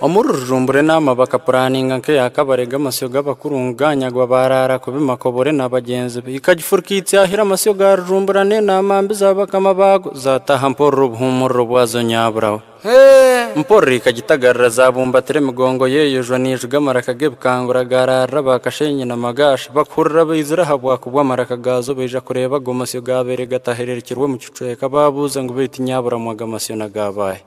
Omuri Rujumbura enaama bakapuraninga nk'eya kabare g'amasyo g'abakuru ngu gaanyagwa baaraara kubi Makobore na bagyenzi be. Ikagifurika itsyahira amasyo ga Rujumbura n'enaama mbi za bakama baago zaataaha mpororo obuhuumuriro bwazo nyaburaho. Mpororo ikagitagarira zaabumbatira emigongo yeeyojwa neijuga amaraka g'ebikangura gaaraarira ba Kasheenyi na Magaasha. Bakuhurira baizire aha bwaku bw'amaraka gaazo baija kureeba ago masyo gaabaire gatahiririkirwe omu kicweka. Baabuuza ngu beitu nyaburamu ago amasyo n'aga baahe?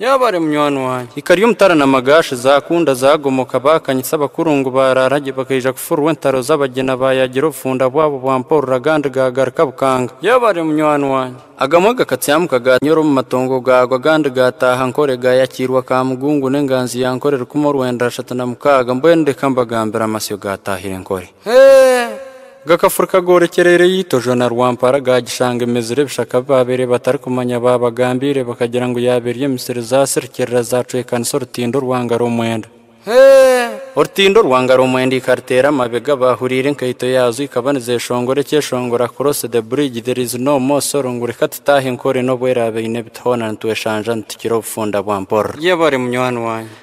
Yaaba ari munywani wangye. Ikari omutara na magaashi zaakunda, zaagomoka, baakanyitsa abakuru ngu baaraara gye, bakaija kufurirwa entaro z'abagyena baayagira obufunda bwabo bwa mpororo agandi gaagaruka bukanga. Yaaba ari munywani wangye. Agamwe gakatyamuka gaanyura omu matongo gaagwa agandi gaataaha nkore, gaayakiirwa ka mugungu n'enganzi ya nkore rukumi orwenda ashatu na mukaaga, mbwenu reka mbagambire amasyo gaataahire nkore. Hee! Gakafurika goorekyereire Itojo na Rwampara gaagishanga emezire ebishaka bi baabaire batarikumanya baabagambiire bakagira ngu yaaba eri emisiri zaasirikirira zaacwekanisa orutindo rwa ngaro mwenda. Hee! Orutindo rwa ngaro mwenda ikariteera amabega baahuriire enkaito yaazo ikaba nizeeshongora ekyeshongora Cross the bridge there is no more sorrow ngu reka tutaahe nkore n'obu eraabe eine ebiti hoona nitweshanja nitukira obufunda bwa mpororo. Yebare munywani wange.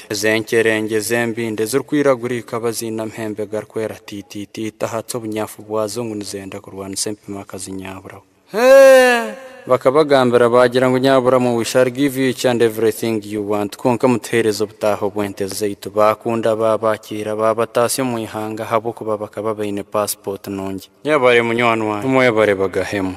ente. Ezo enkyerengye z'embindi ezirikwiragura eikaba ziine amahembe garikwera tiititiiti ahatsi obunyafu bwazo ngu nizenda kurwanisa empima akazi Nyaburamu. Bakabagambira baagira ngu Nyaburamu we shall give each and everything you want kwonka mutuheereze obutaaho bw'ente zaitu. Baakunda baabakiira baabataasya omu ihanga ahabw'okuba bakaba baine paasipooti nungi. Yebare munywani wangye. Mwebare bagahemwe.